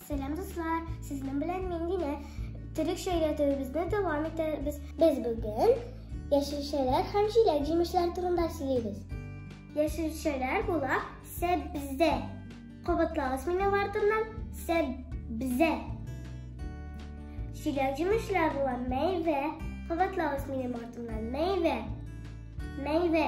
Сәлам дуслар, сезнең белән мин Динә. Төрекчә өйрәтүебезне дәвам итәбез. Без бүген яшелчәләр һәм җиләк җимешләр турында сөйлибез. Яшелчәләр була сәбзә. Кабатлагыз минем артымнан сәбзә. Җиләк җимешләр була мәйвә. Кабатлагыз минем артымнан мәйвә. Мәйвә.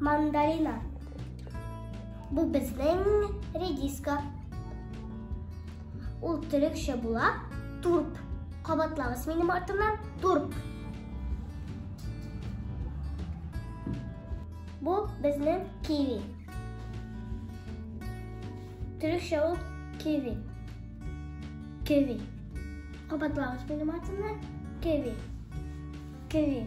Мандарина. Бу безнең редиска. Ул төрекчә була турп. Кабатлагыз минем артымнан турп. Бу безнең киви. Төрекчә ул киви. Киви. Кабатлагыз минем артымнан киви. Киви.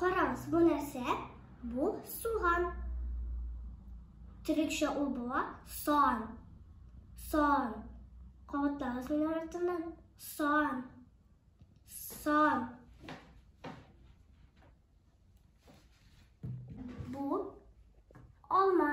Караңыз, бу нәрсә? Бу суган. Төрекчә ул була сан. Сан. Кабатлагыз минем артымнан. Сан. Сан. Бу алма.